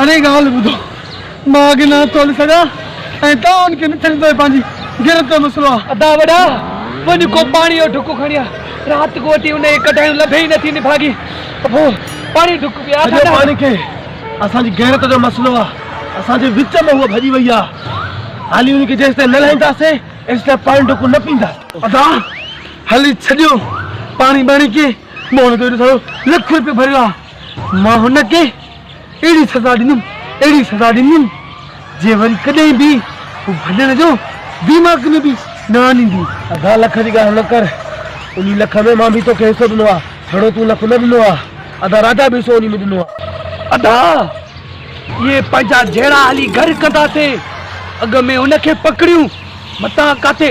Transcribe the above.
اڙي ڳالهه ٻڌو، مان اڳ نه ٿو سگهان ۽ توهان کي نه ٿيندو ته پنهنجي غيرت جو مسئلو آهي. ادا وڏا، وڃ ڪو پاڻيء جو ڍڪ کڻي آ، رات ڪوٽي انهيء ڪڍايون لڀي ئي نٿي نڀاڳي ته پوء پاڻيء جو ڍڪ به آسان آهي. سڄو پاڻي کي اسان جي غيرت جو مسئلو آ، اسان جي وچ مان هوء ڀڄي وئي آ، هالي هن کي جيستائين نه لاهينداسين ايستائين پاڻي ڍڪ نه پينداسين. ادا! هلي ڇڏيو پاڻي ٻاڻي کي موهن جو ايڏو سارو لک روپيو ڀريو آ مان هن کي اهڙي سزا ڏيندم اهڙي سزا ڏيندم جي وري ڪڏهن به هو ڀڄڻ جو ديماغ ۾ به نه آڻيندي. ادا لک جي ڳالهه نه ڪر انهي لک ۾ مان به توکي حصو ڏنو آ جهڙو تون لک نه ڏنو آ ادا راجا به حصو انهي ۾ ڏنو آ. ادا اهي پنهنجا جهڙا هلي گهر ڪندا سي اڳ ۾ هن کي پڪڙيون متان ڪاٿي